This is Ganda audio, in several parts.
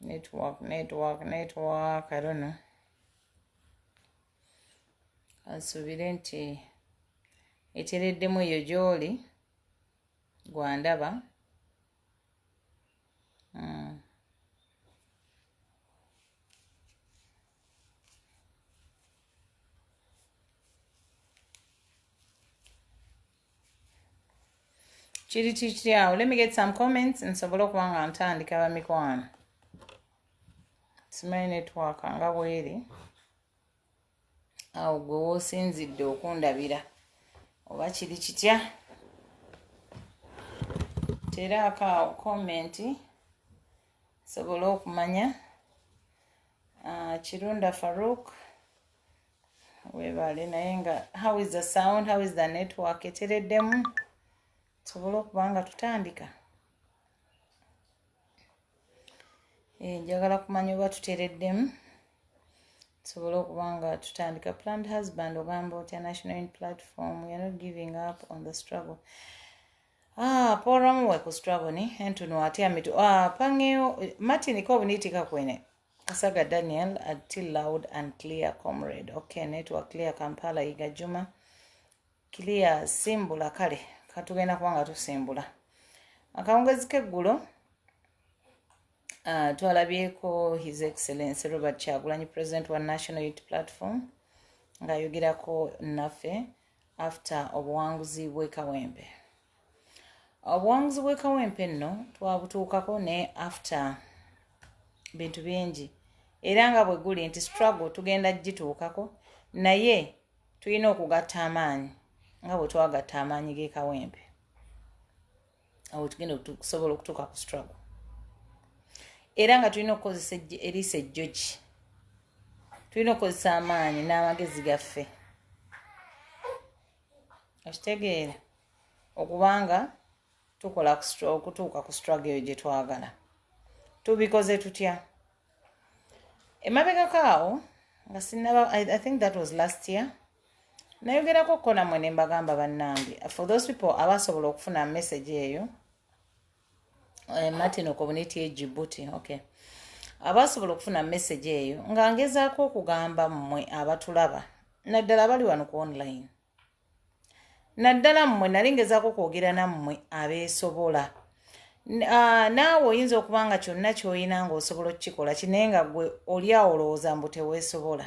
network network network i don't know kansubire nti etereddemu eyo gyoli gwandaba mm. kiri kikiri awo let me get some comments nsobole okuba nga ntandika bamikwano simanyi network nga bweri awo gwe wosinzidde okundabira oba kiri kitya teraako awo komenti nsobole okumanya ah, kirunda farouk webale naye nga how is the sound how is the network etereddemu tusobole okuba nga tutandika eh, njagala kumanya oba tutereddemu tusobole okuba nga tutandika planned husband ogamba otya national in platform weare not giving up on the struggle ah, poramu weku struggle ni entuno ati amitu ah, pangeyo martin ko obuniitika kwene Kasaga Daniel ati loud and clear comrade. Okay, network clear Kampala Iga Juma. Clear simbula kale. Katugenda kuba nga tusimbula. Akawungezi k'eggulo uh, twalabyeko His Excellency Robert Kyagulanyi President wa National Youth Platform ng'ayogerako naffe after obuwanguzi bw'e Kawembe. obuwanguzi bwekawempe nno twabutuukako ne after bintu bingi era nga bwe guli nti struggle tugenda kugituukako naye tulina okugatta amaanyi nga bwe twagatta amaanyi g'ekawempe awo tugenda okusobola okutuuka ku struggle era nga tulina okukozesa eriisa ejjogi tulina okukozesa amaanyi n'amagezi gaffe okitegeera okubanga tukola okutuuka ku strugg eyo gye twagala tubikoze tutya emabegako awo nga sinaba i think that was last year nayogerako ko namwe ne mbagamba bannange for those people abasobola okufuna message eyo eh, martin okobuniti ejibuti okay abasobola okufuna message eyo nga ngezaako okugamba mmwe abatulaba naddala abali wano ku online naddala mmwe nali ngezaako kwogera nammwe abeesobola naawe oyinza okuba nga kyonna ky'olina ng'osobola okukikola kinaye nga gwe oli awo olowooza mbu teweesobola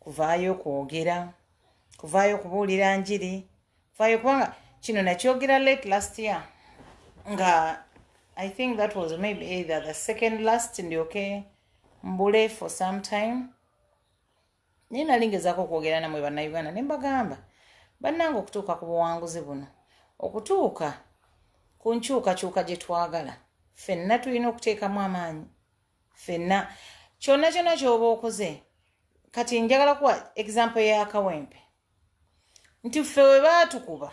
kuvaayo kwogera kuvaayo kubuulira njiri kuvaayo kubanga kino nakyogera late last year nga i think that was maybe either the second last ndyoke mbule for some time naye nali ngezaako okwogera namwe bannayuganda ne mbagamba bannanga okutuuka ku buwanguzi buno okutuuka ku nkyukakyuka gye twagala ffenna tulina okuteekamu amaanyi ffenna kyonna kyonna kyoba okoze kati njagala kuwa egizample ya kawempe nti ffe we baatukuba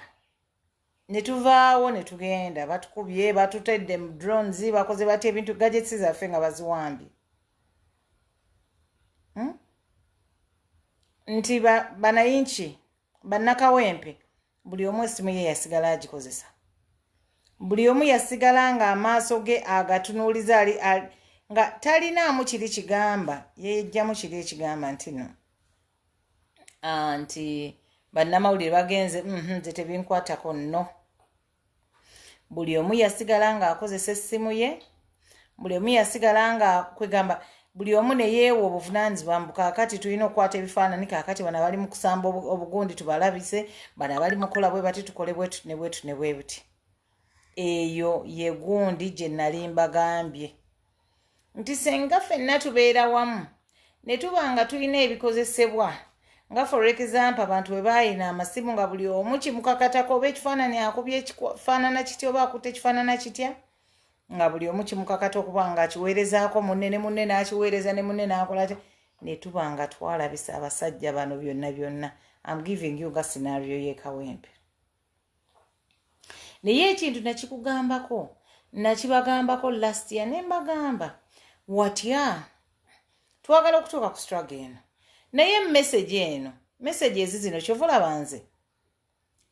ne tuvaawo ne tugenda batukubye batutedde mu drones bakoze batya ebintu gadgets zaffe nga baziwambye hmm? nti banayinki bannakawempe buli omu essimu ye yasigala agikozesa buli omu yasigala ng'amaaso ge agatunuuliza ali nga talinaamu kiri kigamba yeyejjamu kiri ekigamba nti no ah, nti bannamawulire bagenze mhm, nze tebinkwatako nno buli omu yasigala ng'akozesa essimu ye buli omu yasigala nga kwegamba buli omu neyeewa obuvunanyizibwa mbu kakati tulina okukwata ebifaanani kakati bana bali mu kusamba obugundi tubalabise bana bali mukola bwe bati tukole bwetu ne bwetu ne bwebuti eyo yegundi gye nali mbagambye nti senga fenna tubeera wamu ne tuba nga tulina ebikozesebwa nga for example abantu bwe bayina amasimu nga buli omu kimukakatako oba ekifaanani akubye ekifaanana kitya oba akutte ekifaanana kitya nga buli omu kimukakata okuba nga akiweerezaako munne ne munne n'akiweereza ne munne n'akola atya ne tuba nga twalabisa abasajja bano byonna byonna am giving you nga sinario yekawempe naye ekintu nakikugambako nakibagambako last year ne mbagamba watya twagala okutuuka ku struggle eno naye message eno message ezi zino kyova olaba nze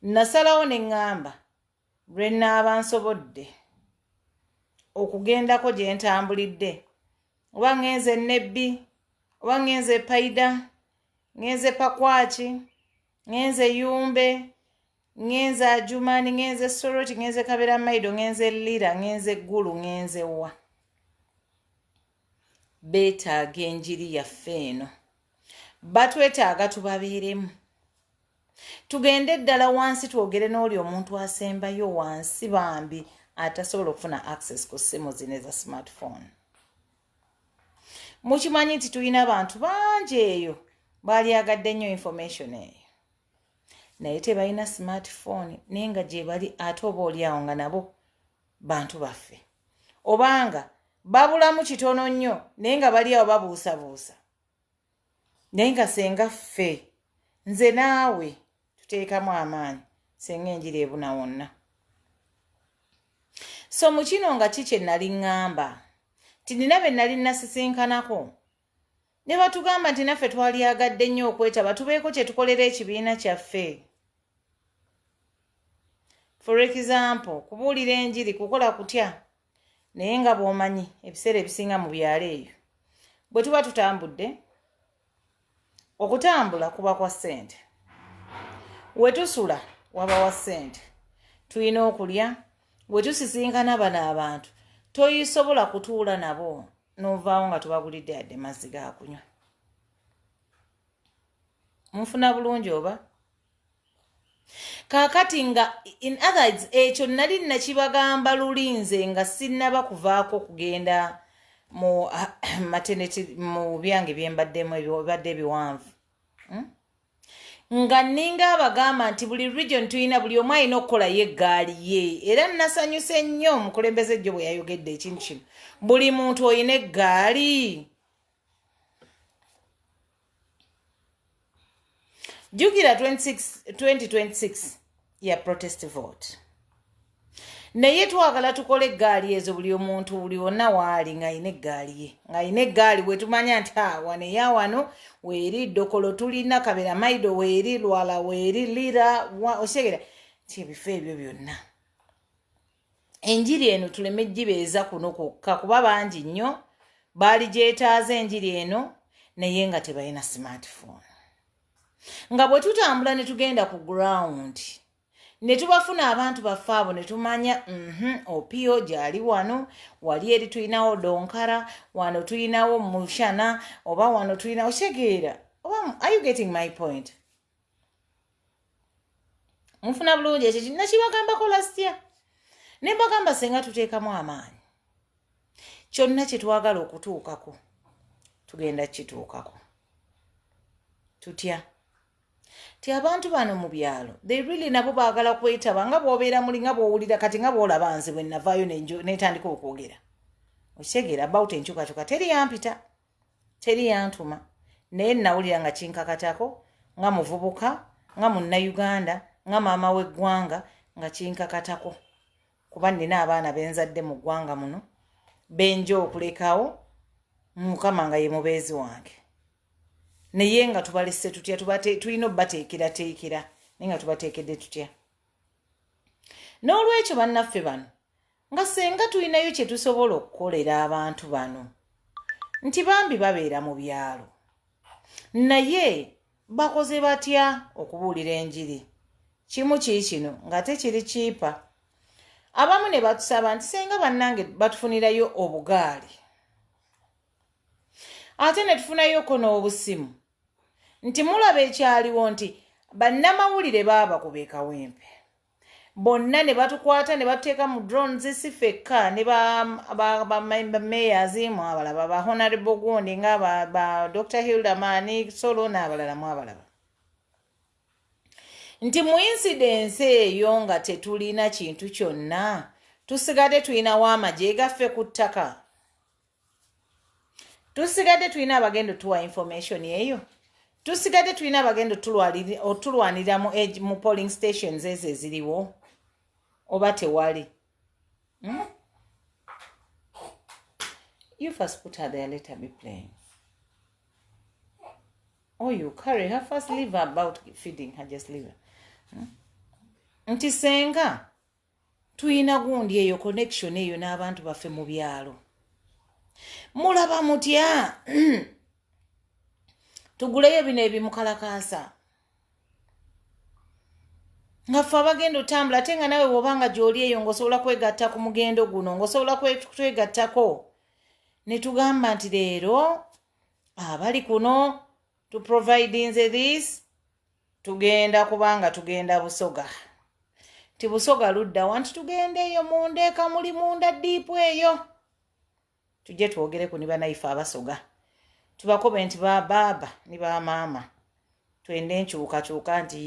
nasalawo ne ŋŋamba lwe naaba nsobodde okugendako gye ntambulidde oba ŋŋenze nebbi oba ŋŋenze paida ŋŋenze pakwaki ŋenze yumbe ŋenze ajumani ŋenze soroti ŋenze kabera maido ŋenze lira ŋenze gulu ŋenze wa betaaga enjiri yaffe eno batwetaaga tubabeeremu tugende eddala wansi twogere n'oli omuntu asembayo wansi bambi atasobola okufuna access ku ssimu zino eza smartphone mukimanyi nti tulina abantu bangi eyo baalyagadde nnyo information eyo naye tebalina smartphone naye nga gyebali ate oba olyawo nga nabo bantu baffe obanga babulamu kitono nnyo naye nga baliawo babuusabuusa naye nga senga ffe nze naawe tuteekamu amaanyi senga enjira ebuna wonna so mu kino nga ki kye nali ŋŋamba nti nina be nali nasisinkanako ne batugamba nti naffe twalyagadde nnyo okwetaba tubeeko kye tukolera ekibiina kyaffe for example kubuulira enjiri kukola kutya naye nga bwomanyi ebiseera ebisinga mu byalo eyo bwe tuba tutambudde okutambula kuba kwa ssente we tusula waba wa ssente tulina okulya we tusisinkana bano abantu toyisobola kutuula nabo novaawo nga tubagulidde yadde mazzi gakunywa mufuna bulungi oba kaakati nga in others ekyo nali nakibagamba lulinze nga sinnaba kuvaako okugenda mu mateneti mu byange byembaddemu ebibadde ebiwanvu hmm? nga nninga abagamba nti buli region tulina buli omu alina okukola ye eggaali ye era nasanyuse nnyo omukulembeze jjo bwe yayogedde ekintu kino buli muntu olina eggaali jukira 2026 ya protest vote naye twagala tukole eggaali ezo buli omuntu buli wonna waali ng'alina eggaali ye ng'alina eggaali wetumanya nti awane ya wano weeri dokolo tulina kabera maido weeri lwala weeri lira okitegera nti ebifo ebyo byonna enjiri eno tuleme gibeeza kuno kwokka kuba bangi nnyo baali gyetaaza enjiri eno naye nga tebalina smartphone nga bwe tutambula ne tugenda ku ground ne tubafuna abantu baffe abo ne tumanya mhm, opio gyali wano wali eri tulinawo donkara wano tulinawo mushana oba wano tulinawo kitegeera oba are you getting my point mufuna bulungi ekyo kinna kibagambako lasitya ne mbagamba senga tuteekamu amaanyi kyonna kye twagala okutuukako tugenda kukituukako tutya ti abantu bano mu byalo they really nabo baagala kwetaba nga bwobeera muli nga bwowulira kati nga bwolaba nze bwe navaayo netandika okwogera okitegeera about enkyukakyuka teri yampita teri yantuma naye nawulira nga kinkakatako nga muvubuka nga munnayuganda nga maama w'eggwanga nga kinkakatako kuba nina abaana benzadde mu ggwanga muno benja okulekawo mukama nga ye mubeezi wange naye nga tubalese tutya tulina obateekerateekera naye nga tubateekedde tutya n'olwekyo bannaffe bano nga senga tulinayo kye tusobola okukolera abantu bano nti bambi babeera mu byalo naye bakoze batya okubuulira enjiri kimu kii kino ng'ate kiri kiipa abamu ne batusaba nti senga bannange batufunirayo obugaali ate ne tufunayoko n'obusimu nti mulaba ekyaliwo nti bannamawulire baaba kubekawempe bonna ne batukwata ne batuteeka mu drones si fekka ne bamayors mu abalaba ba honorable gundi nga ba dr hilderman solo n'abalala mu abalaba nti mu insidensi eyo nga tetulina kintu kyonna tusigadde tulinawo amagye gaffe ku ttaka tusigadde tulina abagenda otuwa information eyo tusigadde tulina abagenda otulwanirira mu polling stations ezo eziriwo oba tewali hmm? you first put her there later be playing or oh, you carry her first leave about feeding her just leave her hmm? nti senga tuyina gundi eyo connection eyo n'abantu baffe mu byalo mulaba mutya tuguleyo bino ebimukalakaasa nga ffe abagenda otambula ate nga nawe woba nga gyoli eyo ngaosobola kwegatta ku mugendo guno ngaosobola kwegattako netugamba nti leero abali kuno tuprovidinze this tugenda kubanga tugenda busoga nti busoga ludda wanti tugenda eyo munda eka muli munda diipu eyo tujje twogereku ni banaife abasoga tubakobe nti babaaba ni bamaama twende enkyukakyuka nti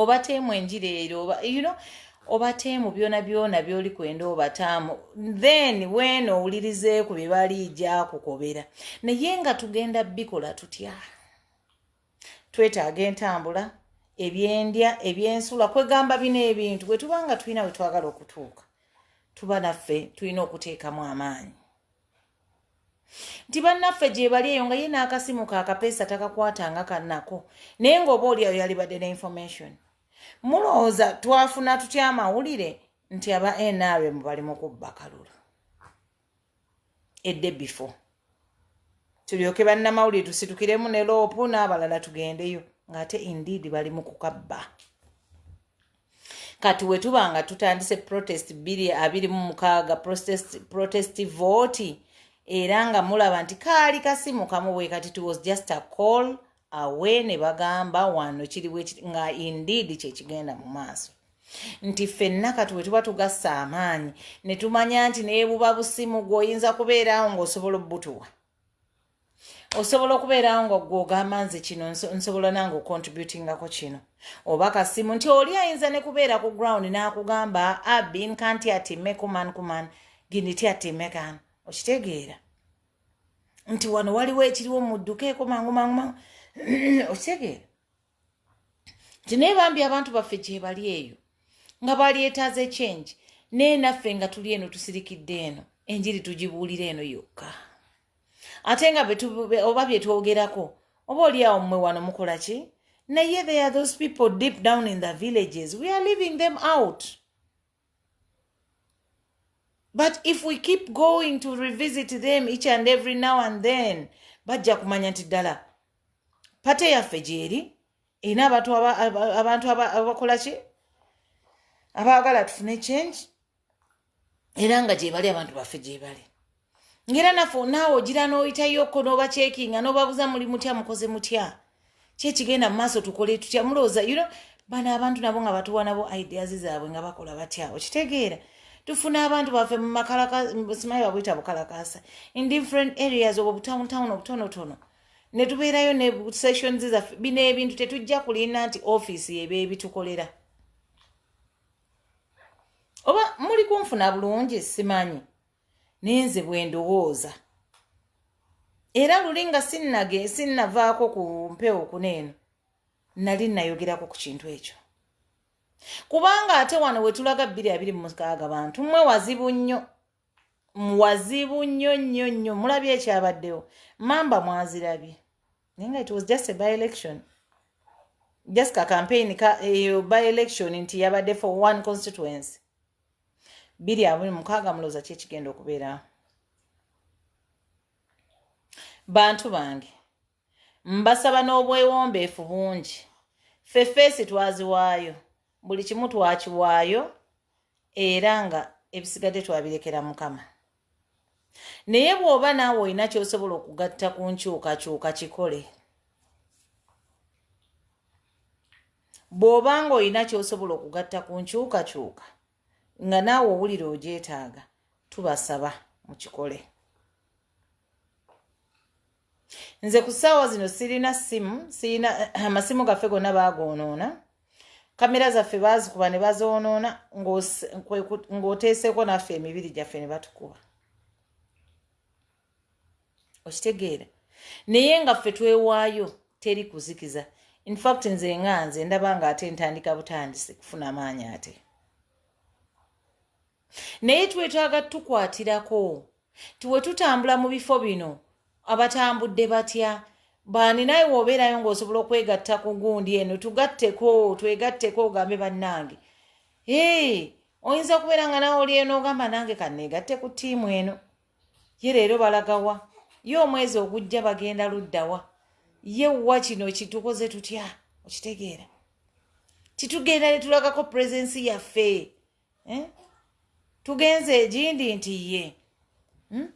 obateemu enjira ero oba you know obateemu byona byona byoli kwenda obataamu then weena owulirizeeku byebali jakukobera naye nga tugenda bikola tutya twetaaga entambula ebyendya ebyensula kwegamba bino ebintu bwetuba nga tulina wetwagala okutuuka tuba naffe tulina okuteekamu amaanyi nti bannaffe gyebali eyo nga ye n'akasimu kakapeesa takakwatanga kanako naye ngaoba oli ayo yalibadde ne information mulowooza twafuna tutya amawulire nti aba nrm bali mu kubba kalulu edde before tulyoke bannamawulire tusitukiremu ne loopu n'abalala tugendeyo ng'ate indeed bali mu kukabba kati wetuba nga tutandise protest biri abiri mu mukaaga protest, protest vote era nga mulaba nti kaali kasimu kamu bwe kati to was just a call away ne bagamba wano kiri nga indeed kyekigenda mu maaso nti ffenna kati we tuba tugassa amaanyi ne tumanya nti nebuba busimu gweoyinza kubeeraawo ng'osobola obutuwa osobola okubeerawo nga gwe ogamba nze kino nsobola nange ocontributingako kino oba kasimu nti oli ayinza ne kubeera ku ground n'akugamba abin ah, kanti atime kuman kuman giniti atime kan okitegeera nti wano waliwo ekiriwo muddukeeko mangu mangu mangu okitegeera nti naye bambi abantu baffe gyebali eyo nga balyetaaza ekyengi naye naffe nga tuli eno tusirikidde eno enjiri tugibuulira eno yokka ate nga oba bye twogerako oba oli awo mmwe wano mukola ki naye there are those people deep down in the villages we are leaving them out but if we keep going to revisit them each and every now and then bajja kumanya nti ddala pate yaffe gyeri erina abantu abakola ki abaagala tufune change era nga gyebali abantu baffe gyebali ngera naffe onaawe ogira n'oyitayoko n'obakyekinga n'obabuza muli mutya mukoze mutya kyekigenda mu maaso tukole tutya mulowooza you know bano abantu nabo nga batuwa nabo ideas zaabwe nga bakola batya okitegeera tufuna abantu baffe mumakalakasimayi babuyita bukalakasa in different areas obwo butawuntown obutonotono netubeerayo ne sessions zaffe bino ebintu tetujja kulinda nti office yeba ebitukolera oba muli kunfuna bulungi simanyi naye nze bwe ndowooza era luli nga sinnage sinnavaako ku mpewo kuna eno nali nayogerako ku kintu ekyo kubanga ate wano we tulaga bbiri abiri mu mukaaga bantu mmwe wazibu nnyo wazibu nnyo nnyo nnyo mulabye ekyabaddewo mamba mwazirabye naye nga it was just a by election just ka campaign ka eyo eh, by election nti yabadde for one constituency biri abuli mukaaga mulooza ki ekigenda okubeera bantu bange mbasaba n'obwewombeefu bungi ffe feesi twaziwaayo buli kimu twakiwaayo era nga ebisigadde twabirekera mukama naye bw'oba naawe olina ky'osobola okugatta ku nkyukakyuka kikole bw'oba ng'olina ky'osobola okugatta ku nkyukakyuka nga naawe owulira ogyetaaga tubasaba mu kikole nze ku ssaawa zino sirina ssimu sirina amasimu gaffe gonna baagoonoona kamera zaffe baazikuba ne bazoonoona ng'oteeseeko naffe emibiri gyaffe ne batukuba okitegeera naye nga ffe twewaayo teri kuzikiza infact nze nga nze ndaba nga ate ntandika butandisi kufuna maanyi ate naye twetaaga tukwatirako tiwetutambula mu bifo bino abatambudde batya baani naye wobeerayo ngaosobola okwegatta ku gundi eno tugatteko twegatteko ogambe bannange ee oyinza okubeera nga nawe oli eno ogamba nange kaneegatte ku tiimu eno ye leero balagawa ye omwezi ogujja bagenda luddawa ye wa kino kitukoze tutya okitegeera titugenda netulagako puresensi yaffe eh? tugenze egindi nti ye hmm?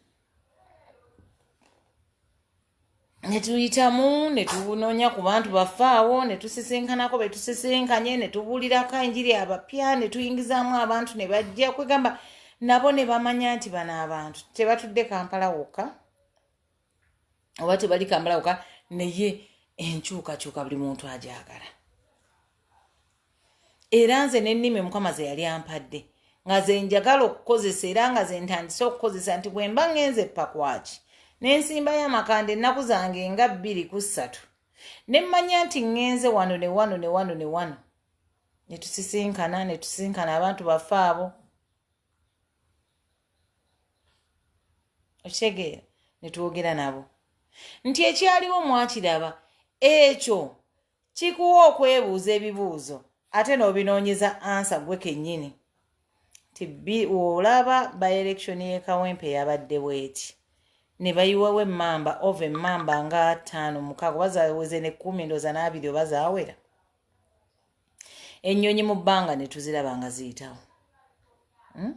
netuyitamu netunoonya ku bantu bafaawo netusisinkanako betusisinkanye netubulirako enjiri abapya netuyingizamu abantu nebajja kwegamba nabo nebamanya nti bano abantu tebatudde kampala wokka oba tebali kambala koka naye enkyukakyuka buli muntu agyagala era nze nennimi mukama ze yali ampadde nga ze njagala okukozesa era nga ze ntandise okukozesa nti bwe mba ŋŋenze epakwaki n'ensimbayo amakanda ennaku zange nga bbiri ku ssatu ne mmanya nti ŋŋenze wano ne wano ne wano ne wano ne tusisinkana ne tusisinkana abantu baffe abo okitegeera ne twogera nabo nti ekyaliwo mwakiraba ekyo kikuwa okwebuuza ebibuuzo ate n'obinoonyeza ansa gwe kennyini nti olaba by election yekawempe yabadde bweti ne bayiwawo emmamba ova emmamba nga ttaano mukaaga oba zaweze ne kkumi ndooza n'abiri oba zawera ennyonyi mu bbanga ne tuziraba nga ziyitawo hmm?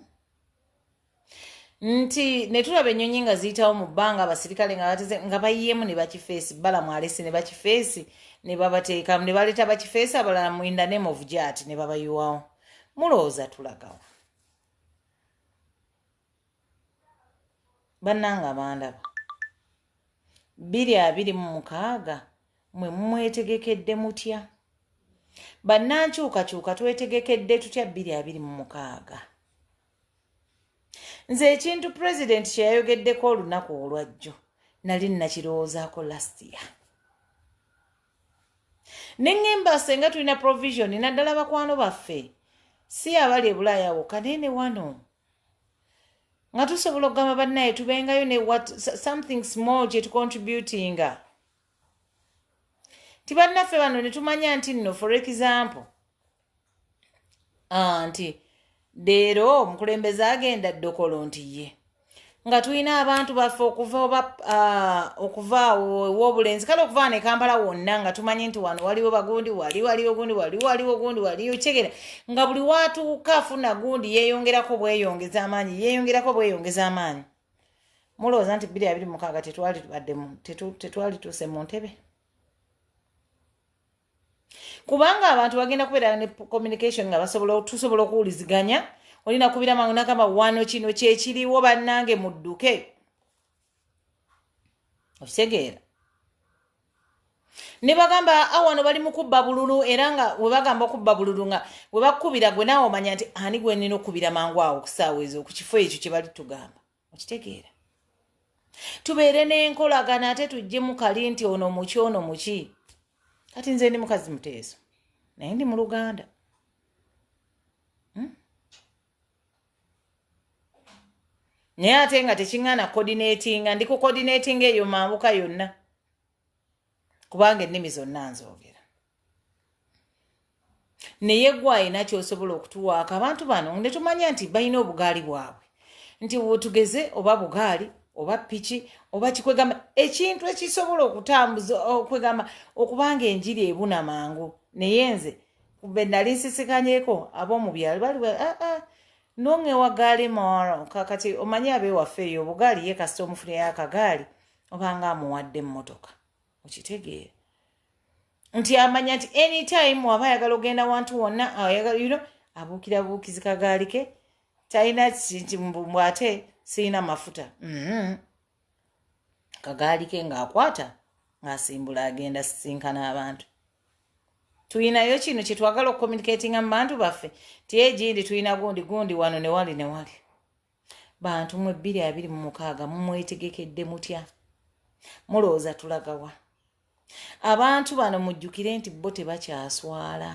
nti ne tulaba ennyonyi nga ziyitawo mu bbanga abasirikale nga bateze nga bayiyeemu ne bakifeesi balamu alesi ne bakifeesi ne babateekamu ne baleeta bakifeesi abalala mu in the name of jat ne babayiwawo mulowooza tulagawo bannanga bandaba biri abiri mu mukaaga mwe mumwetegekedde mutya bannankyukakyuka twetegekedde tutya biri abiri mu mukaaga nze ekintu pulezidenti kye yayogeddeko olunaku olwajjo nali nnakirowoozaako lastiya ne ŋŋemba senga tulina provisioni naddala bakwano baffe si abali ebulaayawo kaneene wano nga tusobola okugamba bannaye tubengayo ne wat something small kye tucontributinga ti bannaffe bano ne tumanya nti nno for example ah, nti deero omukulembeze agenda dokolo nti ye nga tulina abantu baffe okuva oba uh, okuva wobulenzi kale okuva ne kampala wonna nga tumanyi nti wano waliwo bagundi wali waliwo gundi wali waliwo gundi wali okyegera nga buli watuuka afuna gundi yeyongerako bweyongeza amaanyi yeyongerako bweyongeza amaanyi mulowooza nti biri abiri mukaaga tetwali tubaddemu tetwali tuuse mu ntebe kubanga abantu bagenda kubeera ne communication nga basobola tusobola okuwuliziganya olina kubira mangu nagamba wano kino kyekiriwo bannange mudduke okitegeera ne bagamba awano ah, bali mu kubba bululu era nga we bagamba okubba bululu nga we bakukubira gwe naawe omanya nti ani gwenina okukubira mangu awo okusaawa ezo ku kifo ekyo kye bali tugamba okitegeera tubeere n'enkolagana ate tujje mukali nti ono muki ono muki kati nze ndi mukazi muteeso naye ndi mu luganda hmm? naye ate nga tekiŋŋana coordinatinga ndi ku coordinatinga eyo mambuka yonna kubanga ennimi zonna nzoogera naye gwe alina kyosobola okutuwaako abantu bano ne tumanya nti balina obugaali bwabwe nti wotugeze oba bugaali oba piki oba kikwegamba ekintu ekisobola okutambuza okwegamba okubanga enjiri ebuna mangu naye nze kube nali nsisikanyeko ab'omu byalo bali aa ah, ah, nonge wagaali moro kakati omanyi abewaffe eyo obugaali ye kasita omufunira akagaali obanga amuwadde emmotoka okitegeera nti amanya nti anytime waba ayagala ogenda wantu wonna ayagalyuno abuukira buukizi kagaali ke talina kintimbu ate sirina mafuta mm-hmm. kagaali ke ng'akwata ng'asimbula agenda sisinkana abantu tulinayo kino kyetwagala okucommunicatinga mu bantu baffe ti egindi tulina gundi gundi wano newali newali bantu mwe bbiri abiri mu mukaaga mumwetegekedde mutya mulowooza tulagawa abantu bano mujjukire nti bo tebakyaswala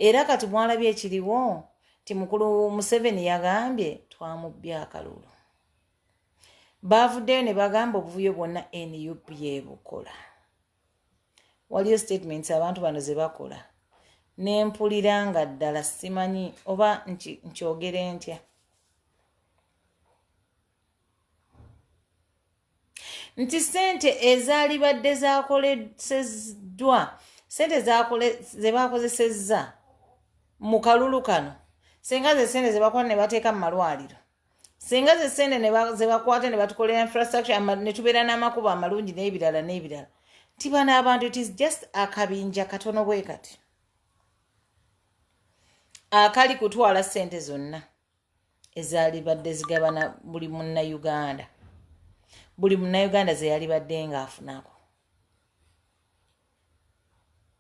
era kati mwalabye ekiriwo ti mukulu museveni yagambye twamubbye akalulu baavuddeyo ne bagamba obuvuyo bwonna nup yebukola waliyo statements abantu bano ze bakola nempulira nga ddala simanyi oba nkyogere ntya nti sente ezaalibadde zakoleseddwa sente zebaakozesezza mu kalulu kano senga ze sente zebakola ne bateeka mu malwaliro singa ze sente zebakwata nebatukolera infrastructure netubeera n'amakubo amalungi n'ebirala n'ebirala nti bano abantu it is just akabinja katono bwe kati akali kutwala sente zonna ezalibadde zigabana buli munnauganda buli munnauganda zeyalibadde ng'afunako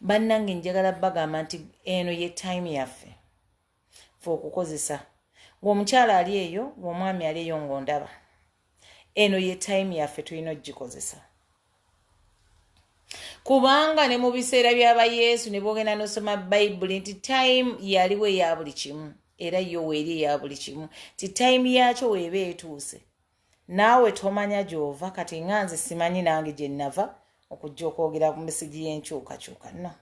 bannange njagala bagamba nti eno ye time yaffe fe okukozesa ngaomukyala ali eyo ngaomwami ali eyo ngaondaba eno ye time yaffe tulina okugikozesa kubanga ne mu biseera byaba yesu ne bogenda nosoma bayibuli nti time yaliwo eya buli kimu era yo weeri eya buli kimu ti time yakyo weeba etuuse Naawe tomanya gy'ova kati nga nze simanyi nange gye nnava okujja okwogera ku misigi y'enkyukakyuka no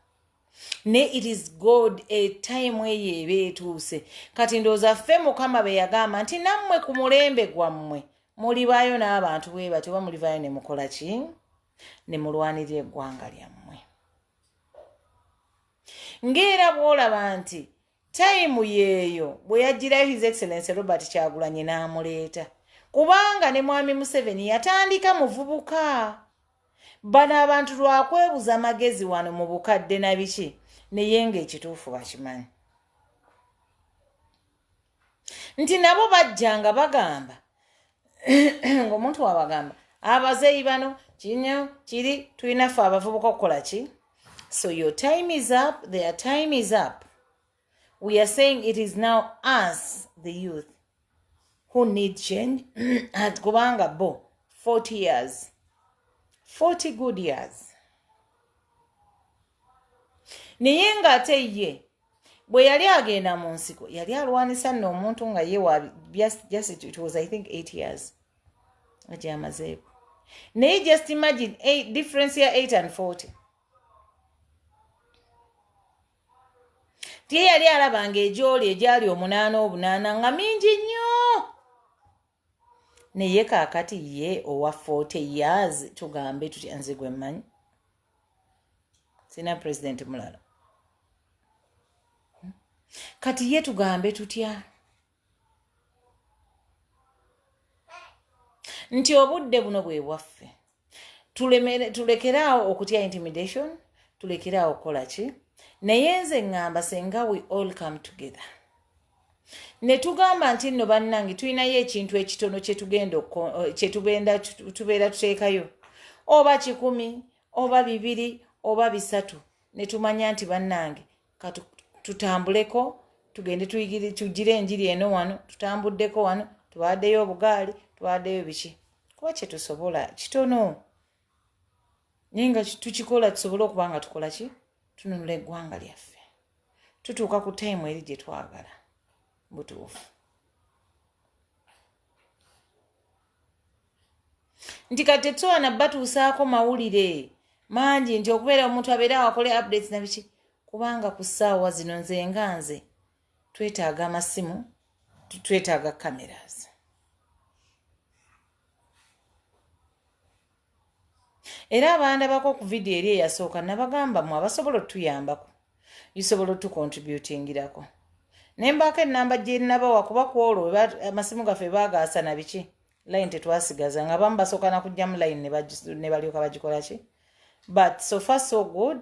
ne it is god a time eyo eba etuuse kati ndowooza ffe mukama be yagamba nti nammwe ku mulembe gwammwe mulibaayo n'abantu bwe batyo oba mulivaayo ne mukola ki ne mulwanirira eggwanga lyammwe ng'era bw'olaba nti time yeeyo bwe yajjirayo his excellence robert kyagulanye n'amuleeta kubanga ne mwami museveni yatandika muvubuka bano abantu lwakwebuza magezi wano mu bukadde na biki naye nga ekituufu bakimanyi nti nabo bajja nga bagamba ngaomuntu wabagamba abazeeyi bano kinyo kiri tulinafe abavubuka okukola ki so your time is up their time is up we are saying it is now us the youth who need change at kubanga bo 40 years 40 good years naye nga ate ye bwe yali agenda mu nsiko yali alwanisa nno omuntu nga ye wabyasititwasathink eight years nga gyamazeeko naye just imagine eight, difference ya eight and forty tiye yali alabanga egyoli egyali omunaana obunaana nga mingi nnyo naye kaakati ye owa 40 years tugambe tutya nze gwe mmanyi sirina pulezidenti mulala hmm? kati ye tugambe tutya nti obudde buno bwe bwaffe tulekere awo okutya intimidation tulekere awo okukola ki naye nze ŋŋamba senga we all come together ne tugamba nti nno bannange tulinayo ekintu ekitono kyetugenda eh, tubeera tuteekayo oba kikumi oba bibiri oba bisatu ne tumanya nti bannange katutambuleko tugende tugire enjiri eno wano tutambuddeko wano tubaaddeyo obugaali tubaaddeyo biki kuba kyetusobola kitono naye nga tukikola tusobole okuba nga tukola ki tununula eggwanga lyaffe tutuuka ku taimu eri gye twagala butuufu nti kati tetwana batuusaako mawulire mangi nti okubeera omuntu abeera awakole updates na biki kubanga ku ssaawa zino nze nga nze twetaaga amasimu twetaaga cameras era abandabako ku vidiyo eri eyasooka nabagamba mu abasobola otutuyambako isobola otukontributingirako ne mbaako enamba gyenabawa kuba ku olwo amasimu gaffe bagaasa na biki line tetwasigaza nga bamu basooka nakugjamu line ne balyoka bagikolaki but sofa so good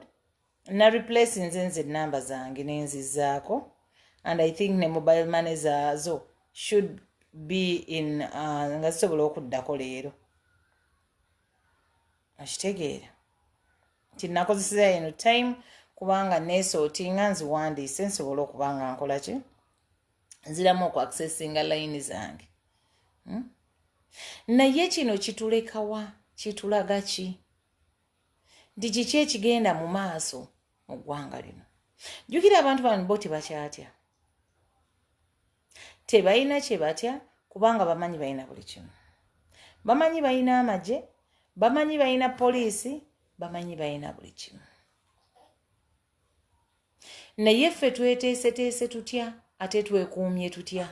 na replacinze nze enamba zange nenzizaako and i think ne mobile money zaazo should be in uh, nga zisobola okuddako leero okitegeera nti nakozeseza eno time kubanga nesootinga nziwandiise nsobola okuba nga nkola ki nziramu okuaccessinga layini zange hmm? naye kino kitulekawa kitulaga ki nti kiki ekigenda mu maaso mu ggwanga lino jjukira abantu bano bo tebakyatya tebalina kye batya kubanga bamanyi balina buli kimu bamanyi balina amagye bamanyi balina poliisi bamanyi balina buli kimu naye ffe tweteeseteese tutya ate twekuumye tutya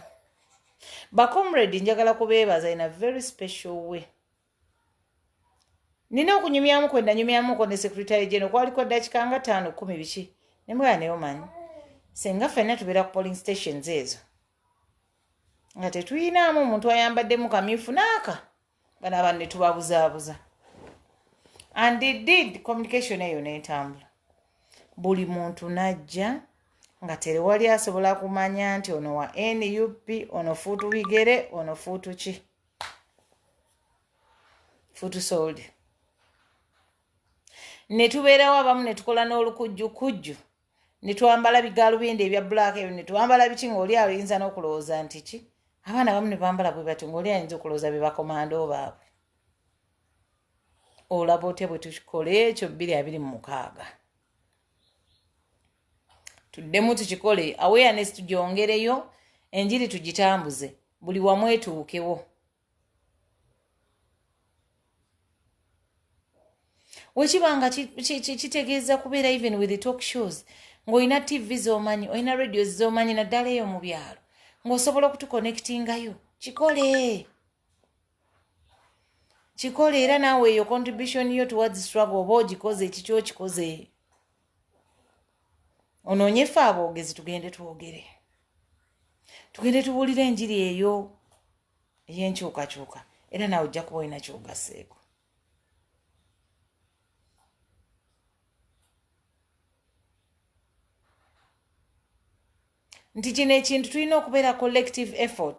bacomrade njagala kubeebaza in a very special way nina okunyumyamu kwe nanyumyamuko ne secretary geno kwaliko dakika nga taano kumi biki ne mugala naye omanyi senga fenna tubeera ku polling stations ezo nga tetuyinaamu omuntu ayambaddemu kamyufu naaka bano abantu ne tubabuzaabuza and did communication eyo netambula buli muntu najja nga terewali asobola kumanya nti ono wa nup ono fuutu bigere ono fuutu ki futusolde ne tubeerawo abamu ne tukola n'olukujju kujju ne twambala bigaalubindi ebya bulaaka ebyo ne twambala biki ng'oli ayinza n'okulowooza nti ki abaana abamu ne bambala bwe batyo ng'oli ayinza okulowooza be bakomando baabwe olaba otya bwe tukola ekyo bbiri abiri mu mukaaga tuddemu tukikole awareness tugyongereyo enjiri tugitambuze buli wamu etuukewo wekiba nga kitegeeza kubeera even with the talk shows ng'olina tv z'omanyi olina radios z'omanyi naddala eyo mu byalo ng'osobola okutukonectingayo kikole kikole era naawe eyo contribution yo towards struggle oba ogikoze ekikyo okikoze onoonye ffe aboogezi tugende twogere tugende tubuulire enjiri eyo ey'enkyukakyuka era nawe ojja kuba olina kyogaseeko nti kino ekintu tulina okubeera collective effort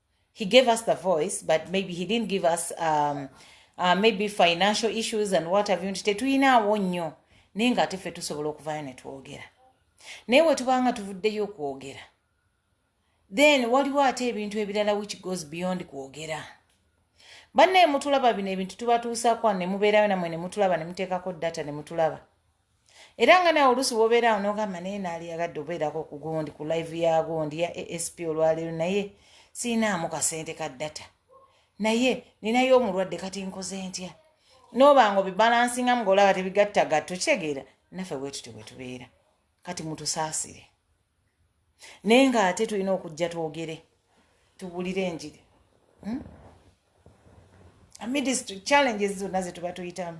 he gave us the voice but maybe he didn't give us um, uh, maybe financial issues and what have you nti tetuyinaawo nnyo naye nga ate ffe tusobola okuvayo ne twogera naye we tubanga tuvuddeyo okwogera then waliwo ate ebintu ebirala which goes beyond kwogera bannaye mutulaba bino ebintu tubatuusaakwa ne mubeerayo namwe ne mutulaba ne muteekako data ne mutulaba era nga nawe oluusi wobeera awo nogamba naye naali yagadde obeerako ku gundi ku live ya gundi ya asp olwaleero naye siinaamu kasente ka data naye ninayo omulwadde kati nkoze ntya noba nga obibalansinga mu ngaolaba tebigatta gatto kitegeera naffe bwetutyo bwetubeera kati mutusaasire naye nga ate tulina okujja twogere tubulire enjiri hmm? amidist challenges zonna zetuba tuyitamu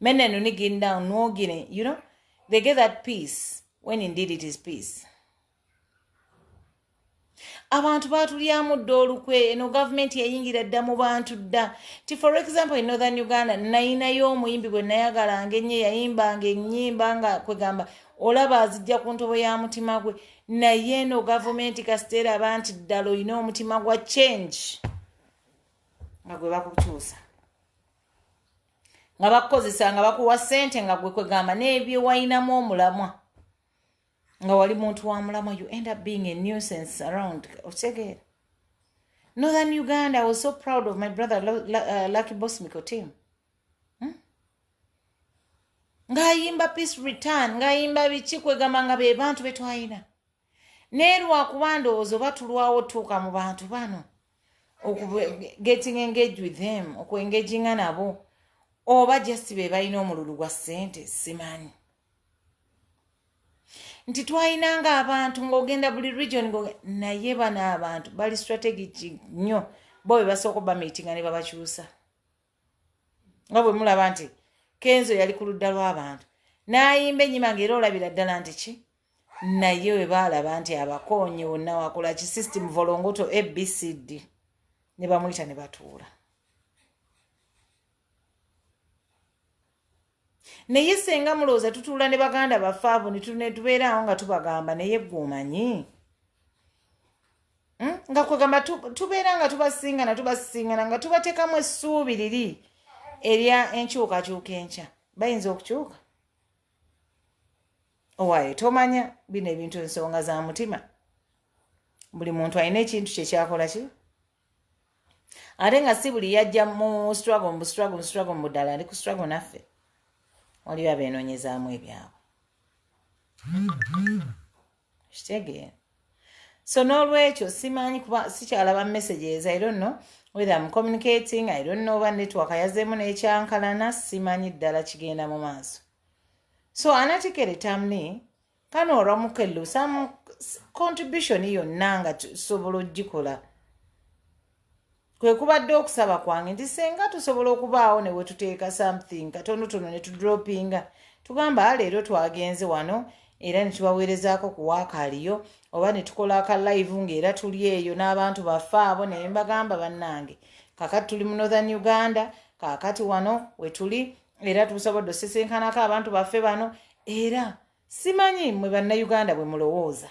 Men and only getting down, no getting, you know, they get that peace when indeed it is peace. abantu baatulyamu dda olukwe eno gavumenti yayingira dda mu bantu dda ti for example in northern uganda nayinayo omuyimbi gwe nayagalanga ennyo yayimbanga ennyimba nga kwegamba olaba azijja ku ntobo ya mutima gwe naye eno gavumenti kasiteera aba nti ddala olina omutima gwa change nga gwe bakukyusa nga bakukozesa nga bakuwa sente nga gwe kwegamba nebyewalinamu omulamwa nga wali muntu wa mulamwa you end up being a nuisance around okitegeera northern uganda i was so proud of my brother uh, lucky boss miko team hmm? ngaayimba peace return ngaayimba biki kwegamba nga be bantu betwalina naye lwakuba ndowooza oba tulwawo otuuka mu bantu bano okugetting engage with them okuengaginga nabo oba just be balina omululu gwa ssente simanyi nti twalinanga abantu ng'ogenda buli region naye bano abantu bali strategic nnyo bo be basooka obamiitinga ne babakyusa nga bwe mulaba nti kenzo yali ku ludda lw'abantu n'ayimba ennyima nga era olabira ddala nti ki naye we baalaba nti abakoonye wonna wakola ki system volongoto abcd ne bamuyita ne batuula naye senga mulowooza tutuula ne baganda baffe abo netubeeraawo nga tubagamba naye gwe omanyi hmm? nga kwegamba tubeera nga tubasingana tubasingana nga tubatekamu essuubi liri erya enkyukakyuka enkya bayinza okukyuka owaye tomanya bino ebintu ensonga za mutima buli muntu alina ekintu kyekyakola ki ate nga si buli yajja mu struggle mu struggle mu struggle mu ddala ali ku struggle naffe waliyo abeenoonyezaamu ebyabwe kitegeera so n'olwekyo simanyi kuba sikyalaba messages i don't know whether am communicating i don't know oba network yazeemu n'ekyankalana simanyi ddala kigenda mu maaso so anatikere tamni kano oramukello some contribution yonna nga tusobola okugikola kwe kubadde okusaba kwange nti senga tusobola okubaawo ne we tuteeka something katonotono ne tudropinga tugamba ah, leero twagenze wano era ne tubaweerezaako ku waakaaliyo oba ne tukola aka live ng'era tuli eyo n'abantu baffe abo naye mbagamba bannange kakati tuli mu northern uganda kakati wano wetuli era tusobodde osisinkanako abantu baffe bano era simanyi mwe bannayuganda bwe mulowooza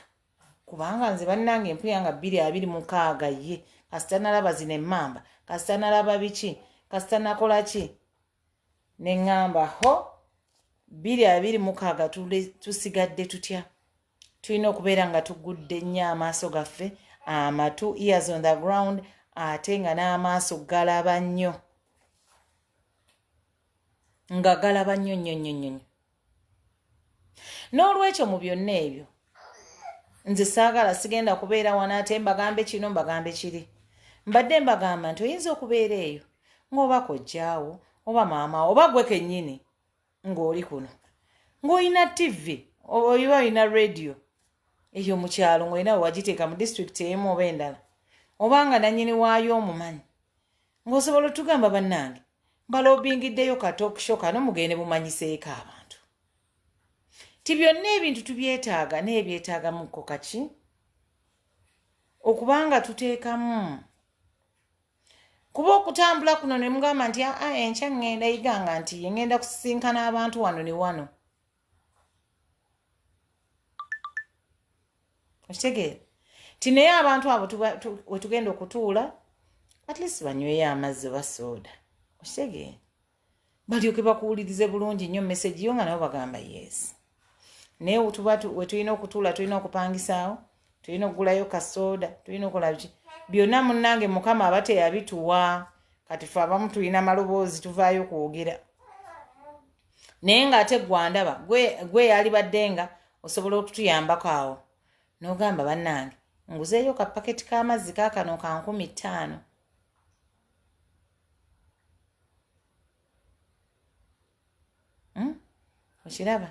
kubanga nze bannange empuya nga bbiri abiri mukaaga ye kasita nalaba zino emmamba kasita nalaba biki kasita nakola ki ne ŋŋamba ho bbiri abiri mukaaga tusigadde tutya tulina okubeera nga tugudde nnyo amaaso gaffe amatu ears on the ground ate nga n'amaaso galaba nnyo nga galaba nnyo nnyo nnyo nnyo nnyo n'olwekyo mu byonna ebyo nze saagala sigenda kubeera wano ate mbagambe kino mbagambe kiri mbadde mbagamba nti oyinza okubeera eyo ng'oba kojjaawo oba maama oba gwe kennyini ng'oli kuno ng'olina tivi oba olina radiyo eyo mu kyalo ng'olina wewagiteeka mu disitulikiti emu oba endala oba nga nannyini waayo omumanyi ng'osobola otugamba bannange mbalobingiddeyo katookisho kano mugende mumanyiseeko abantu ti byonna ebintu tubyetaaga naye byetaagamuko kaki okubanga tuteekamu kuba okutambula kuno ne mugamba nti aa ah, enkya ŋŋenda iganga nti ye ŋŋenda kusisinkana abantu wano ne wano okitegeera nti naye abantu abo wetugenda okutuula at least banyweyo amazzi oba sooda okitegeera balyoke bakuwulirize bulungi nnyo message yo nga nabo bagamba yes naye tuba wetulina okutuula tulina okupangisaawo tulina okugulayo kasooda tulina okulabki byonna munnange mukama aba teyabituwa kati fe abamu tulina maloboozi tuvaayo kwogera naye ng'ate gwandaba gwe yalibadde nga osobola okutuyambako awo n'ogamba bannange nguzeeyo kapaketi k'amazzi kakano ka nkumi ttaano hmm? okiraba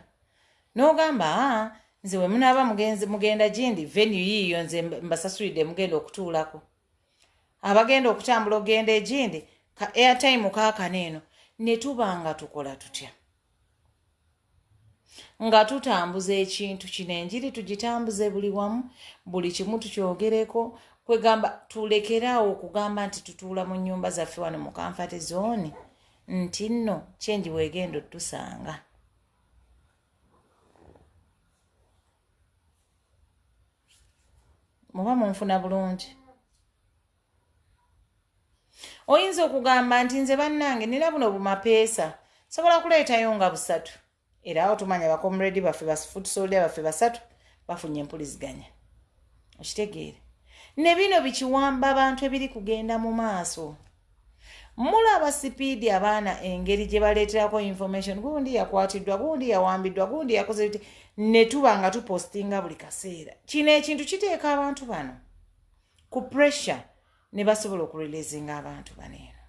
n'ogamba ah, nze we munaaba mugenzi mugenda gindi venu yiiyo nze mbasasulidde mugenda okutuulako abagenda okutambula okugenda egindi ka airtime kaakano eno ne tuba nga tukola tutya nga tutambuza ekintu kino enjiri tugitambuze buli wamu buli kimu tukyogereko kwegamba tulekeraawo okugamba nti tutuula mu nyumba zaffe wano mu kanfate zooni nti nno kyengi weegenda otusanga muba munfuna bulungi oyinza okugamba nti nze bannange nina buno bumapeesa sobola kuleetayo nga busatu era awo tumanya bakomredi baffe bafutusolda baffe basatu bafunye empuliziganya okitegeere ne bino bikiwamba abantu ebiri kugenda mu maaso mulaba sipiidi abaana engeri gye baleeterako information gundi yakwatiddwa gundi yawambiddwa gundi yakoze bite ne tuba nga tupostinga buli kaseera kino ekintu kiteeka abantu bano ku pressure ne basobola okureleasinga abantu baneeno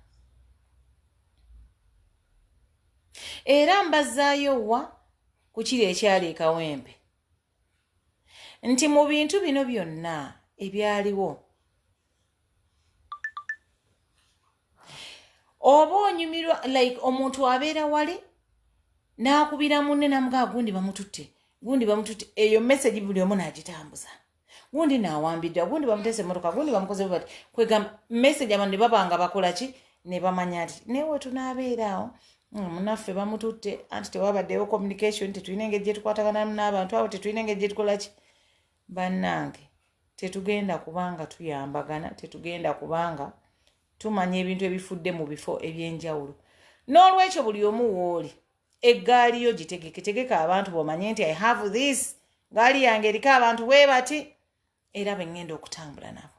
era mbazaayo wa ku kiri ekyali ekawempe nti mu bintu bino byonna ebyaliwo oba onyumirwa like omuntu abeera wali n'akubira munne namugaa gundi bamututte gundi bamututte eyo message buli omu n'agitambuza na gundi nawambidde gundi bamutese emotoka gundi bamukoze bati kwegamba message abantu nebabanga bakola ki nebamanya ti naye wetunabeeraawo mm, munaffe bamututte anti tewabaddewo communication tetulina engeri gyetukwataganamu n'abantu awo tetulina engeri gyetukola ki bannange tetugenda kubanga tuyambagana tetugenda kubanga tumanya ebintu ebifudde mu bifo ebyenjawulo n'olwekyo buli omu wooli eggaali yo gitegeke tegeka abantu bomanye nti i have this gaali yange eriko abantu webati era bengenda okutambula nabo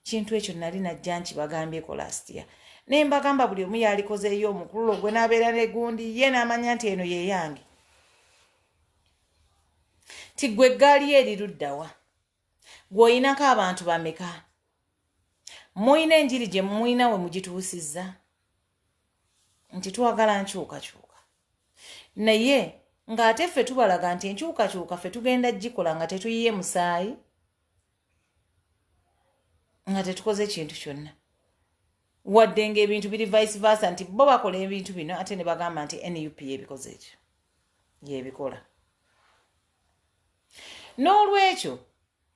kintu ekyo nali najja nkibagambyeko last year naye mbagamba buli omu yalikozeeyo omukululo gwe nabeera negundi ye namanya nti eno yeyange ti gwe eggaali yo eriruddawa gwoyinako abantu bameka muyina enjiri gye muyina we mugituusizza nti twagala nkyukakyuka naye ng'ate ffe tubalaga nti enkyukakyuka ffe tugenda gikola nga tetuyiye musaayi nga tetukoze ekintu kyonna wadde ngaebintu biri vice versa nti bo bakola ebintu bino ate ne bagamba nti nup yebikoze ekyo yebikola n'olwekyo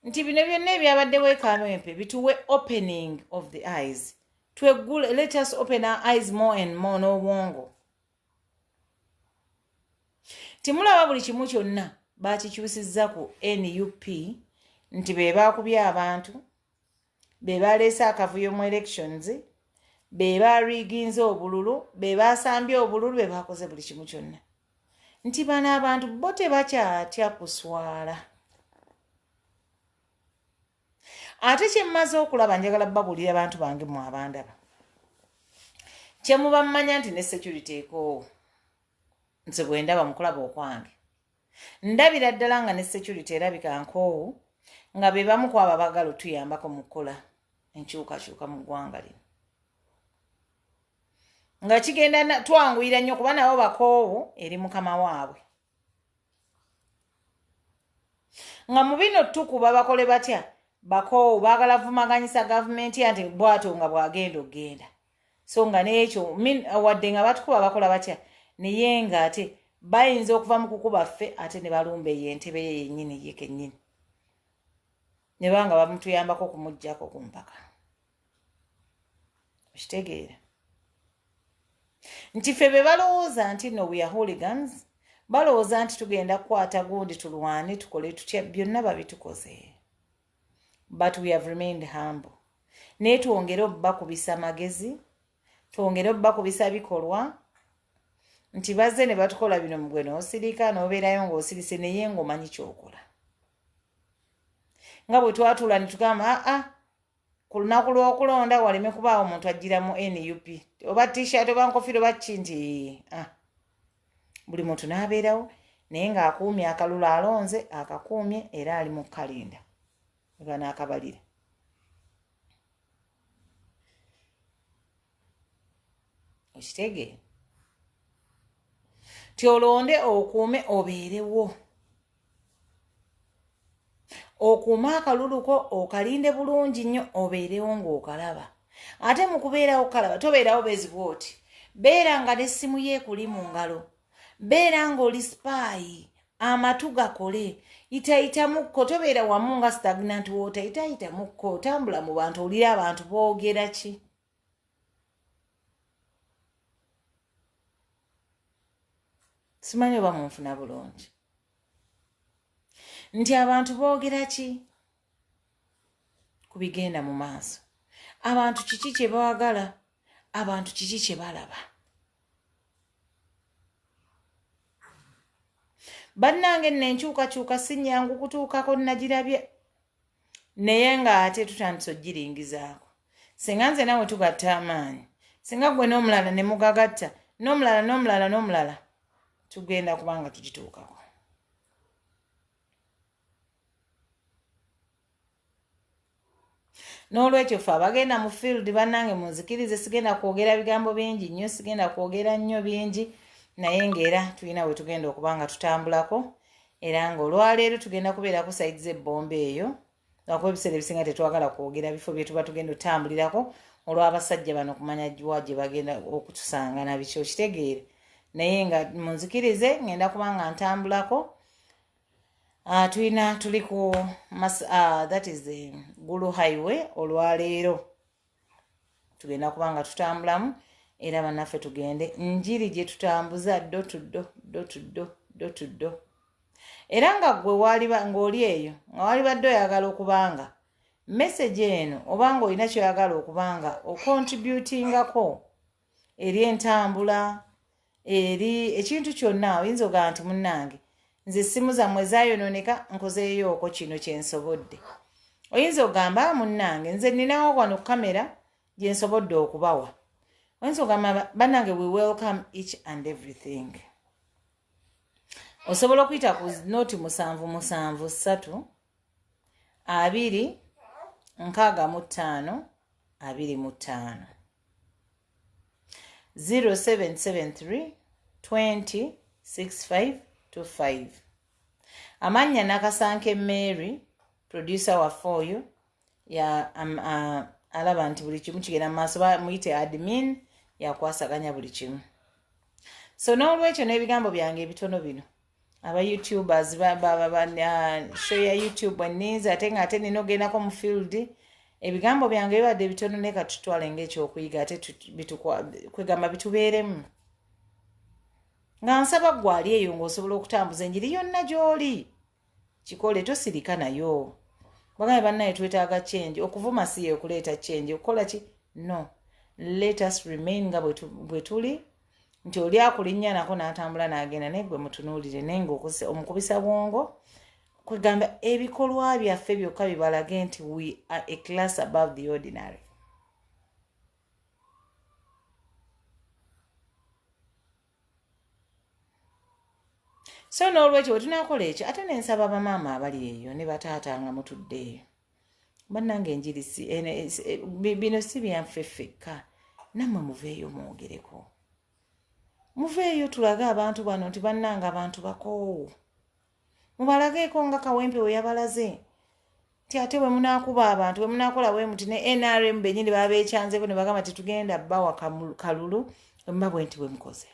nti bino byonna ebyabaddewo ekamempe bituwe opening of the eyes tweggule let us open our eyes more and more n'obwongo timulaba buli kimu kyonna bakikyusizza ku nup nti be baakubya abantu be baleese akavuyo mu elections be bariginze obululu be basambye obululu be bakoze buli kimu kyonna nti bano abantu bo tebakyatya kuswala ate kyemmaze okulaba njagala babuulira bantu bange mu abandaba kyemuba mumanya nti ne security ekoowo nze bwendaba mukulaba okwange Ndabira ddala nga ne security erabika nkoowu nga be bamu kwabo abagala otuyambako mu kukola enkyukakyuka mu ggwanga lino nga kigenda twanguyira nnyo kuba nabo bakoowu eri mukama waabwe nga mu bino tukuba bakole batya bakoowu baagala vumaganyisa gavumenti ya nti bwato nga bwagenda okugenda so nga n'ekyo wadde nga batukuba bakola batya naye nga ate bayinza okuva mu kukuba ffe ate ne balumba eyo entebe ye yennyini ye kennyini ne baba nga bamutuyambako okumugyako ku mpaka okitegeera nti ffe be balowooza nti no we are hooligans balowooza nti tugenda kukwata gundi tulwane tukole tutya byonna babitukoze but we have remained humble naye twongere obubakubisa amagezi twongere obubakubisa bikolwa nti bazze ne batukola bino mugwe n'osirika n'obeerayo ng'osirise naye ng'omanyi kyokola nga bwe twatula ne tugamba aa ah, ah, ku lunaku lw'okulonda waleme kubaawo omuntu ajjira mu nup oba t-shirt oba nkofiro bakki nti ah. buli muntu n'abeerawo naye ng'akuumye akalulu alonze akakuumye era ali mu kalinda eba n'akabalira okitegeera ti olonde okuume obeerewo okuuma akaluluko okalinde bulungi nnyo obeerewo ng'okalaba ate mu kubeerawo kalaba tobeerawo bezi bwoti beera nga n'essimu ye ekuli mu ngalo beera ng'oli sipaayi amatu gakole yitayitamukko tobeera wamu nga stagnant water yitayitamukko otambula mu bantu owulira abantu boogera ki simanyi oba munfuna bulungi nti abantu boogera ki ku bigenda mu maaso abantu kiki kye baagala abantu kiki kye balaba bannange nno enkyukakyuka si nnyangu kutuukako nagirabye naye nga ate tutandise ogiringizaako singa nze nawe tugatta amaanyi singa gwe n'omulala ne mugagatta n'omulala n'omulala n'omulala tugenda kubanga tugituukako n'olwekyo fe abagenda mu field bannange munzikirize sigenda kwogera bigambo bingi nnyo sigenda kwogera nnyo bingi naye ngaera tulina we tugenda okuba nga tutambulako era nga olwaleero tugenda kubeera ku saidi z'ebbomba eyo ngakuba ebiseera ebisinga tetwagala kwogera bifo byetuba tugenda otambulirako olw'abasajja bano kumanya wa gye bagenda okutusanga nabiki okitegeere naye nga munzikirize ngenda kuba nga ntambulako ah, tulina tuli ku ah, that is eh, gulu highway olwaleero tugenda kuba nga tutambulamu era bannaffe tugende njiri gye tutambuza ddo tuddo ddo tuddo ddo tuddo era nga gwe ng'oli eyo nga walibadde oyagala okubanga message eno oba nga olina kyoyagala okubanga okontributingako eri entambula eri ekintu kyonna oyinza ogamba nti munnange nze essimu zammwe ezayonooneka nkozeeyooko kino kyensobodde oyinza ogamba ah, munnange nze ninawo wano kamera gyensobodde okubawa oyinza ogamba bannange we welcome each and everything osobola okuyita ku nooti musanvu musanvu ssatu abiri nkaaga mu ttaano abiri mu ttaano 0773 20 65 25 amannya nakasanke mary producer waffe oyo ya um, uh, alaba nti buli kimu kigenda mumaaso bamuyite admin yakwasaganya buli kimu so n'olwekyo n'ebigambo byange ebitono bino aba youtubers show ya youtube eninzi ate nga ate nina ogendako mu field ebigambo byange bibadde bitono naye katutwale ngaekyokuyiga ate kwegamba bitubeeremu nga nsaba gwali eyo ngaosobola okutambuza enjiri yonna gyoli kikole tosirika nayo bagaye bannaye twetaaga change okuvuma si yeokuleeta change okukola ki no let us remain nga bwetuli nti oli akulinnya nako n'atambula n'agenda naye gwe mutunuulire naye ngaokozesa omukubisa bwongo kwegamba ebikolwa byaffe byokka bibalage nti we are a class above the ordinary so n'olwekyo bwe tunakola ekyo ate nensaba bamaama abali eyo ne bataata nga mutudde eyo bannange enjiri si bino si byanffe ffekka nammwe muveeyo mwongereko muveeyo tulage abantu bano nti bannange abantu bakoowu mubalageeko nga kawempe we yabalaze nti ate bwe munaakuba abantu bwe munaakola bwe muti ne nrm benyini babeekyanzeeko ne bagamba tetugenda bawa kalulu emba bwe nti bwe mukoze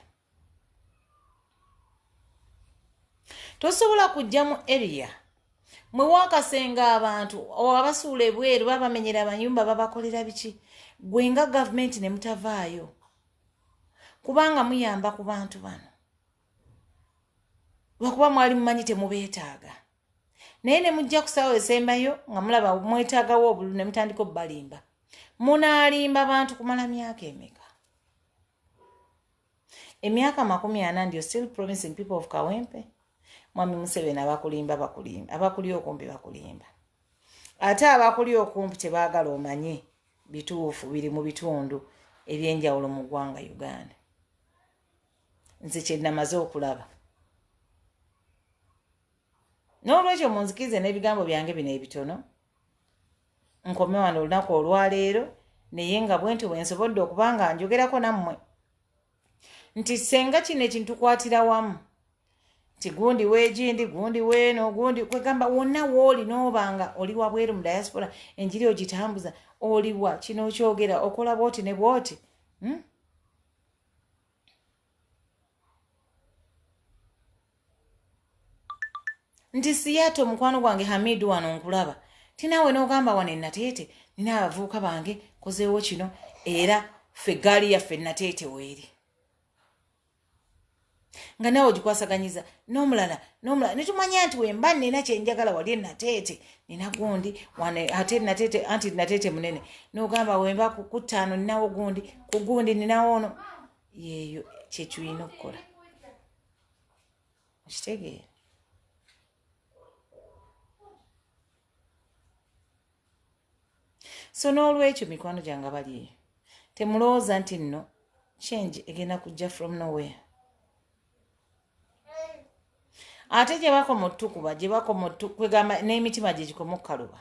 tosobola kujja mu area mwe wakasenga abantu abasuula ebweru babamenyera amayumba babakolera biki gwe nga gavumenti ne mutavaayo kubanga muyamba ku bantu bano lwakuba mwali mumanyi temubeetaaga naye ne mujja kusaawo esembayo nga mulaba mwetaagawo obulu ne mutandika obubalimba munaalimba bantu kumala myaka emeka emyaka makumi ana ndio still promising people of kawempe mwami museveni abakulimba bakulimba abakuli okumpi bakulimba ate abakuli okumpi tebagala omanye bituufu biri mu bitundu ebyenjawulo mu ggwanga uganda nze kyenamaze okulaba n'olwekyo munzikirize n'ebigambo byange bino ebitono nkome wano olunaku olwaleero naye nga bwenti bwensobodde okuba nga njogerako nammwe nti senga kino ekintu kwatira wamu nti gundi wegindi gundi weeno gundi kwegamba wonna wooli nooba nga oli wabweru mu diaspora enjiri ogitambuza oliwa kino okyogera okola bwoti ne bwoti hmm? nti siyato mukwano gwange hamidu wano nkulaba tinaawe n'ogamba wano enateete nina abavubuka bange kozeewo kino era ffe gaali yaffe enateete weeri nga nawe ogikwasaganyiza nomulala nomulala netumanya nti wemba nina kyenjagala wali enateete nina gundi ate nateete anti nateete munene nogamba wemba kukutaano ninawo gundi kugundi ninawo ono yeeyo kyetulina okukola okitegeera so n'olwekyo mikwano gyange abali eyo temulowooza nti nno change egenda kujja from nowhere ate gye bakoma otukuba gye bakoma kwegamba n'emitima gye gikoma okukaluba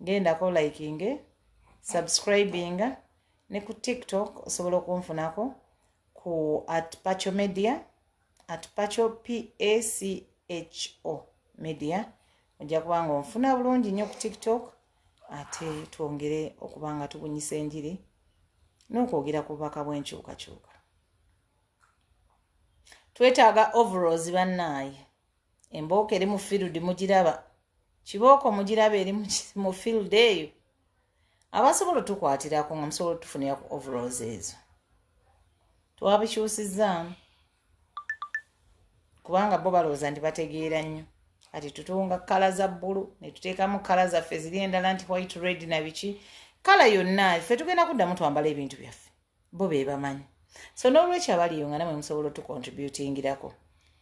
gendako likinge subscribinga ne ku tiktok osobola okunfunako ku at pacho media at pacho pacho media ojja kuba nga onfuna bulungi nnyo ku tiktok ate twongere okuba nga tubunyisa enjiri n'okwogera ku bubaka bw'enkyukakyuka twetaaga overalls bannaaye embooko eri mu field mugiraba kibooko mugiraba eri mu field eyo abasobola otukwatirako nga musobola otufunira ku overalls ezo twabikyusizaamu kubanga bo balowooza nti bategeera nnyo kati tutunga kala za bbulu netuteekamu kala zaffe ziri endala nti white red na biki kala yonna ffe tugenda kuddamu twambala ebintu byaffe bo be bamanyi so n'olwekyo abaliyo nga namwe musobola otukontributingirako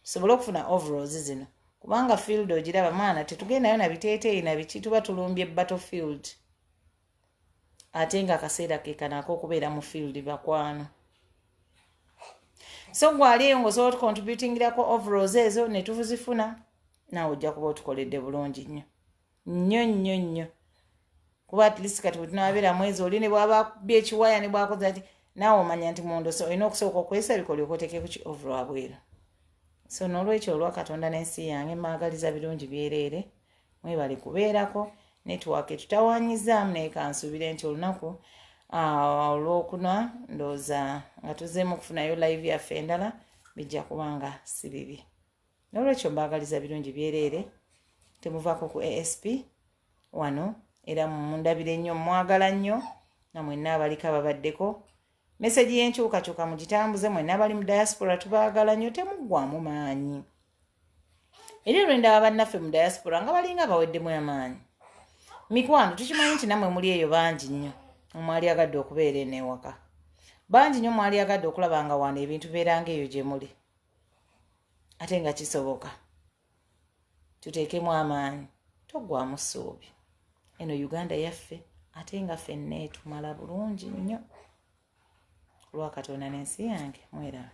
tusobole okufuna overalls zino kubanga field ogiraba mwana tetugendayo na biteeteeyi na biki tuba tulumbye battle field ate nga akaseera kekanaako okubeera mu field bakwano so gwali eyo ngaosobola otukontributingirako overalls ezo netuzifuna naawe ojja kuba otukoledde bulungi nnyo nnyo nnyo nnyo kuba at least kati wetunabeera mwezi oli ne bwaba akubye ekiwaya ne bwakoze ati naawe omanya nti mundu so olina okusooka okwesabika olyoka otekeku ki ovulu abweru so n'olwekyo olwa katonda n'ensi yange maagaliza birungi byereere mwebale kubeerako network etutawanyizaamu naye kansuubire nti olunaku ah, olwokuna ndooza nga tuzeemu okufunayo live yaffe endala bijja kuba nga si bibi nolwekyo mbaagaliza birungi byereere temuvaako ku asp wano era mundabire nnyo mwagala nnyo nga mwenna abaliko ababaddeko mesegi y'enkyukakyuka mugitambuze mwenna abali mu diaspora tubaagala nnyo temuggwamu maanyi era olwendaba bannaffe mu diaspora nga balinga abaweddemu amaanyi mikwano tukimanyi nti nammwe muli eyo bangi nnyo omwali agadde okubeera eneewaka bangi nnyo mwali agadde okulaba nga wano ebintu beeranga eyo gye muli ate nga kisoboka tuteekemu amaanyi toggwamu ssuubi eno uganda yaffe ate nga fenna etumala bulungi nnyo olwakatonda n'ensi yange mweraba